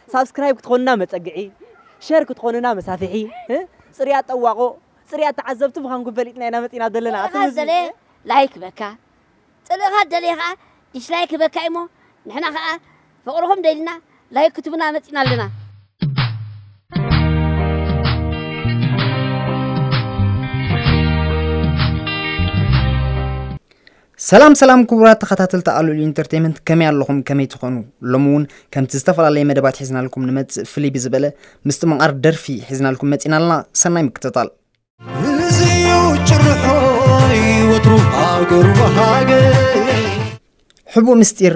ሳብስክራይብ ክትኾኑና መፀግዒ ሸር ክትኾኑና መሳፍሒ እ? ፅርያት ጠዋቖ ፅርያት ተዓዘብቲ ምዃንኩም ፈሊጥና ኢና መፂና ዘለና ኣቲ ህዝቢ። ላይክ በካ ጽልእኻ ደሊኻ ከኣ ዲስላይክ ህበካ ኢሞ ንሕና ከኣ ፍቅርኹም ደሊና ላይክ ክትቡና መጺና ኣለና። ሰላም ሰላም ክቡራት ተኸታተልቲ ኣሉል ኢንተርቴንመንት ከመይ ኣለኹም ከመይ ትኾኑ ሎሚ እውን ከምቲ ዝተፈላለየ መደባት ሒዝናልኩም ንመፅእ ፍልይ ብዝበለ ምስቲ መቓር ደርፊ ሒዝናልኩም መፂና ኣለና ሰናይ ምክትታል እዚዩ ጭርሖይ ወትሩ ሃገሩ ሃገረይ ሕቡእ ምስጢር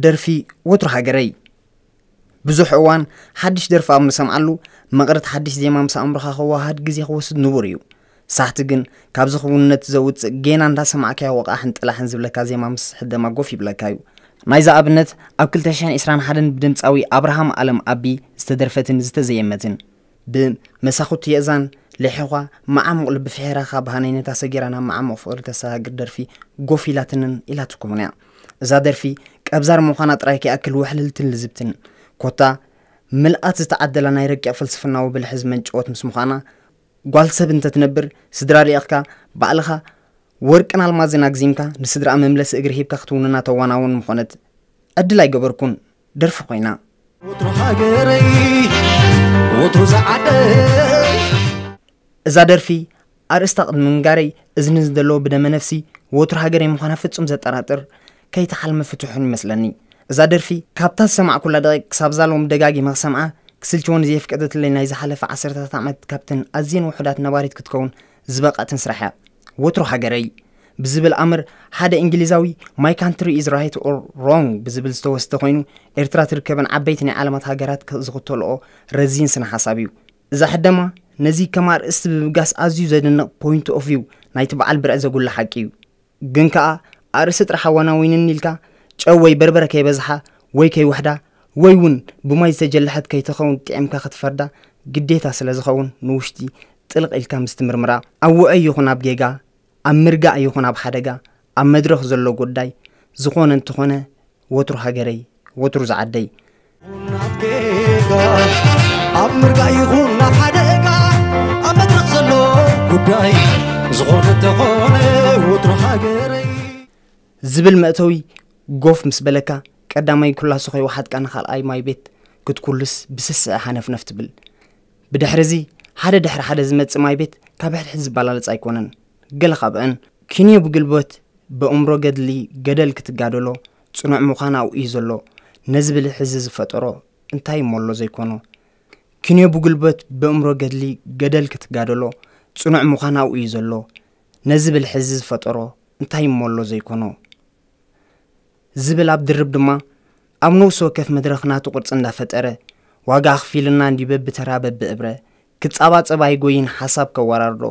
ደርፊ ወትሩ ሃገረይ ብዙሕ እዋን ሓድሽ ደርፊ ኣብ ምሰምዓሉ መቕረት ሓድሽ ዜማ ምስ ኣእምሮኻ ክወሃሃድ ግዜ ክወስድ ንቡር እዩ ሳሕቲ ግን ካብዚ ክውንነት ዘውፅእ ጌና እንዳሰማዕካዮ ወቓሕን ጥላሕን ዝብለካ ዜማ ምስ ሕደማ ጎፍ ይብለካ እዩ ናይዛ ኣብነት ኣብ 221 ብድምፃዊ ኣብርሃም ኣለም ኣቢ ዝተደርፈትን ዝተዘየመትን ብመሳኹቲ የእዛን ሌሒዃ መዓሙቕ ልቢ ፍሒራኻ ብሃነይነታ ሰጊራ ናብ መዓሙቕ ፍቕሪ ተሰጋግር ደርፊ ጎፍ ኢላትንን ኢላትኩምን እያ። እዛ ደርፊ ቀብዛር ምዃና ጥራይ ከይኣክል ውሕልልትን ልዝብትን ኮታ ምልኣት ዝተዓደላ ናይ ረቂቕ ፍልስፍናዊ ብልሒ ዝመንጨወት ምስ ምዃና ጓል ሰብ እንተትነብር ስድራ ልኢኽካ ባዕልኻ ወርቅን ኣልማዝን ኣግዚምካ ንስድራኣ መምለሲ እግሪ ሂብካ ክትውንና ተዋናውን ምኾነት ዕድል ኣይገበርኩን። ደርፊ ኮይና። ወትሩ ሃገረይ ወትሩ ዝዓደይ እዛ ደርፊ ኣርእስታ ቅድሚ ምንጋረይ እዚ ንዝደለዎ ብደመ ነፍሲ ወትሩ ሃገረይ ምዃና ፍጹም ዘጠራጥር ከይታ ሓልሚ ፍትሑን ይመስለኒ እዛ ደርፊ ካብታ ዝሰማዕኩላ ደቂቅ ክሳብ ዛሎም ደጋጊመ ክሰምዓ ክስልችወኒ ዘየፍቀደትለይ ናይ ዝሓለፈ ዓሰርታት ዓመት ካብተን ኣዝየን ውሑዳት ነባሪት ክትከውን ዝበቐዕትን ስራሕ እያ ወትሩ ሃገረይ ብዝብል ኣምር ሓደ እንግሊዛዊ ማይ ካንትሪ ኢዝ ራይት ኦር ሮንግ ብዝብል ዝተወስደ ኮይኑ ኤርትራ ትርከበን ዓበይቲ ናይ ዓለማት ሃገራት ዝኽተልኦ ረዚን ስነ ሓሳብ እዩ እዛ ሕደማ ነዚ ከም ኣርእስቲ ብብጋስ ኣዝዩ ዘድንቕ ፖይንት ኦፍ ቪው ናይቲ በዓል ብርዕ ዘጉልሕ ሓቂ እዩ ግን ከኣ ኣርእስቲ ጥራሕ ኣዋናዊንን ኢልካ ጨው ወይ በርበረ ከይበዝሓ ወይ ከይውሕዳ ወይ ውን ብማይ ዝተጀለሐት ከይትኸውን ጢዒምካ ክትፈርዳ ግዴታ ስለ ዝኸውን ንውሽጢ ጥልቕ ኢልካ ምስ ትምርምራ ኣብ ውዑይ ይኹን ኣብ ጌጋ ኣብ ምርጋእ ይኹን ኣብ ሓደጋ ኣብ መድረኽ ዘሎ ጉዳይ ዝኾነ እንተኾነ ወትሩ ሃገረይ ወትሩ ዝዓደይ ኣብ ምርጋእ ይኹን ናብ ሓደጋ ኣብ መድረኽ ዘሎ ጉዳይ ዝኾነ ተኾነ ወትሩ ሃገረይ ዝብል መእተዊ ጎፍ ምስ በለካ ቀዳማይ ኩላሱ ከይወሓጥካ ንኻልኣይ ማይ ቤት ክትኩልስ ብስስዐ ሃነፍነፍ ትብል ብድሕሪ እዚ ሓደ ድሕሪ ሓደ ዝመፅእ ማይ ቤት ካብ ሕድሕድ ዝበላለፅ ኣይኮነን ገለ ካብአን ኪንዮ ብግልቦት ብእምሮ ገድሊ ገደል ክትጋደሎ ጽኑዕ ምዃን ኣብኡ እዩ ዘሎ። ነዚ ብልሒ እዚ ዝፈጠሮ እንታይ እሞ ኣሎ ዘይኮኖ። ክንዮ ብጉልበት በእምሮ ገድሊ ገደል ክትጋደሎ ጽኑዕ ምዃን ኣብኡ እዩ ዘሎ። ነዚ ብልሒ እዚ ዝፈጠሮ እንታይ እሞ ኣሎ ዘይኮኖ። ዝብል ኣብ ድርብ ድማ ኣብ ነውሲ ወከፍ መድረኽ ናቱ ቅርጺ እንዳፈጠረ ዋጋ ኣኽፊሉና እንዲ በብተራ በብእብረ ክጻባጸብ ኣይጎይን ሓሳብ ከወራርዶ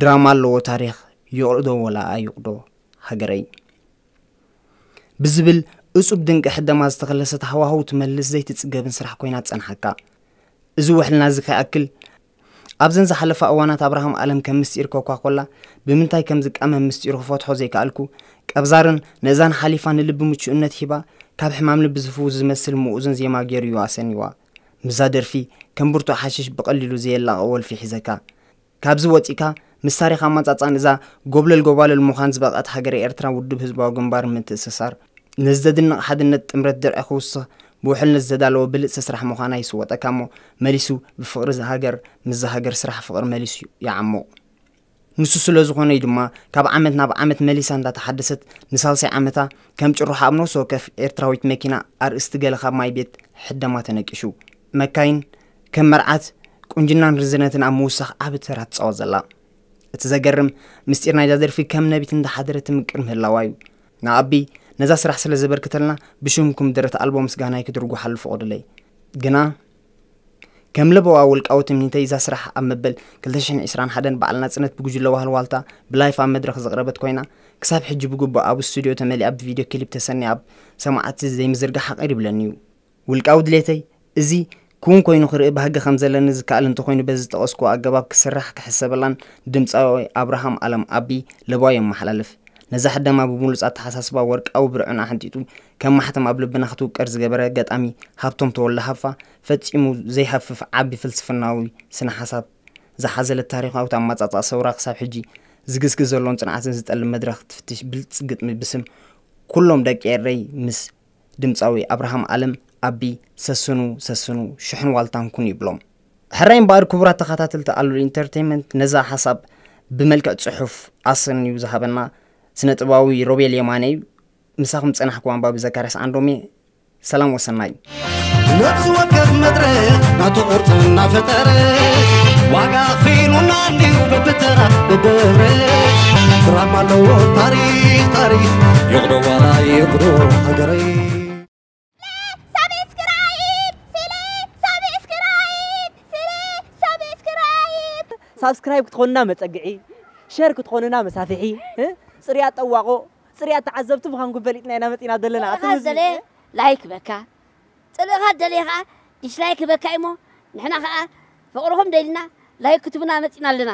ድራማ ኣለዎ ታሪኽ ይቕዶ ወላ ኣይቕዶ ሃገረይ ብዝብል እጹብ ድንቂ ሕደማ ዝተኸለሰት ሃዋህው ትመልስ ዘይትጽገብን ስራሕ ኮይና ትጸንሓካ። እዚ ውሕልና እዚ ከይኣክል ኣብዘን ዝሓለፋ እዋናት ኣብርሃም ኣለም ከም ምስጢር ኮኳኮላ ብምንታይ ከም ዝቃመም ምስጢሩ ክፈትሖ ዘይከኣልኩ ቀብዛርን ነእዛን ሓሊፋ ንልቢ ምቹእነት ሂባ ካብ ሕማም ልቢ ዝፍውስ ዝመስል ምኡዝን ዜማ ገይሩ እዩ ኣሰኒዋ። ምዛ ደርፊ ከም ብርቱዕ ሓሽሽ ብቐሊሉ ዘየላቐ ወልፊ ሒዘካ ካብዚ ወጺእካ ምስ ታሪኽ ኣማጻጽኣን እዛ ጎብለል ጎባልል ምዃን ዝበቕዐት ሃገረ ኤርትራ ውድብ ህዝባዊ ግንባር ምትእስሳር ነዚ ዘድንቕ ሓድነት ጥምረት ድርዒ ክውስኽ ብውሕልነት ዝተዳለወ ብልጽቲ ስራሕ ምዃና ኣይስወጠካ'ሞ መሊሱ ብፍቕሪ ሃገር ምስዛ ሃገር ስራሕ ፍቕሪ መሊሱ ይዓሙቕ። ንሱ ስለ ዝኾነ'ዩ ድማ ካብ ዓመት ናብ ዓመት መሊሳ እንዳተሓደሰት ንሳልሳይ ዓመታ ከም ጭርሖ ኣብ ነፍሲ ወከፍ ኤርትራዊት መኪና ኣርእስቲ ገለ ካብ ማይ ቤት ሕደማ ተነቂሹ መካይን ከም መርዓት ቁንጅናን ርዝነትን ኣብ ምውሳኽ ዓቢ ተራ ትጻወት ዘላ። እቲ ዘገርም ምስጢር ናይዛ ደርፊ ከም ነቢት እንዳሓደረት ትምቅር ምህላዋ እዩ። ንኣቢ ነዛ ስራሕ ስለ ዘበርክተልና ብሽምኩም ደረት ኣልቦ ምስጋናይ ክድርጉሓሉ ፍቆዱለይ። ግና ከም ለበዋ ውልቃዊ ትምኒተይ እዛ ስራሕ ኣብ መበል ክልተ ሽሕን ዕስራን ሓደን በዓል ናጽነት ብጉጅለ ዋህልዋልታ ብላይፍ ኣብ መድረኽ ዝቕረበት ኮይና ክሳብ ሕጂ ብግቡእ ኣብ ስቱድዮ ተመሊኣ ብቪድዮ ክሊፕ ተሰንያ ኣብ ሰማዕቲ ዘይምዝርጋሓ ቅር ይብለኒ እዩ። ውልቃዊ ድሌተይ፣ እዚ ክውን ኮይኑ ክርኢ ባህጊ ከም ዘለኒ ዝከኣል እንተኾይኑ በዚ ዝጠቐስኩዎ ኣገባብ ክስራሕ ክሕሰበላን ድምጻዊ ኣብርሃም ኣለም፣ ኣቢ፣ ለበዋይ የመሓላልፍ። ነዛ ሕደማ ብብሉጽ ኣተሓሳስባ ወርቃዊ ብርዕን ኣሕንጢጡ ከም ማሕተም ኣብ ልብና ክትውቀር ዝገበረ ገጣሚ ሃብቶም ተወልደ ሃፋ ፈጺሙ ዘይሃፍፍ ዓቢ ፍልስፍናዊ ስነ ሓሳብ ዝሓዘለት ታሪኻዊት ኣመጻጽኣ ሰውራ ክሳብ ሕጂ ዝግስግስ ዘሎን ጽንዓትን ዝጠልብ መድረኽ ትፍትሽ ብልጽ ግጥሚ ብስም ኩሎም ደቂ ኤረይ ምስ ድምጻዊ ኣብርሃም ኣለም፣ ኣቢ፣ ሰስኑ ሰስኑ ሽሕን ዋልታን ኩኑ ይብሎም። ሕራይ እምበኣር ክቡራት ተኻታተልቲ ኣሉል ኢንተርተይመንት ነዛ ሓሳብ ብመልክዕ ጽሑፍ ኣሰንዩ ዝሃበና ስነ ጥበባዊ ሮቤል የማነ ዩ። ምሳኹም ዝጸናሕኩ ኣንባቢ ዘካርያስ ዓንዶም'የ። ሰላም ወሰናይ። ነብሲ ወከፍ መድረኽ ናቱ ቅርጺ እናፈጠረ ዋጋ ኣኽፊሉና እንድዩ በብተራ ብብረሽ ድራማ ኣለዎ ታሪኽ ታሪኽ ይቕዶ ዋላ ይቕዶ ሃገረይ ሳብስክራይብ ክትኾኑና መፀግዒ ሸር ክትኾኑና መሳፍሒ እ ፅርያት ጠዋቖ ፅርያት ተዓዘብቲ ምዃንኩም ፈሊጥና ኢና መፂና ዘለና ኣብቲ ፅልእኻ ዝደለየ ምስሊ ላይክ ህበካ ፅልእኻ ዝደለየ ከዓ ዲስላይክ ህበካ እዩሞ ንሕና ከዓ ፍቅርኹም ደሊና ላይክ ክትቡና መፂና ኣለና።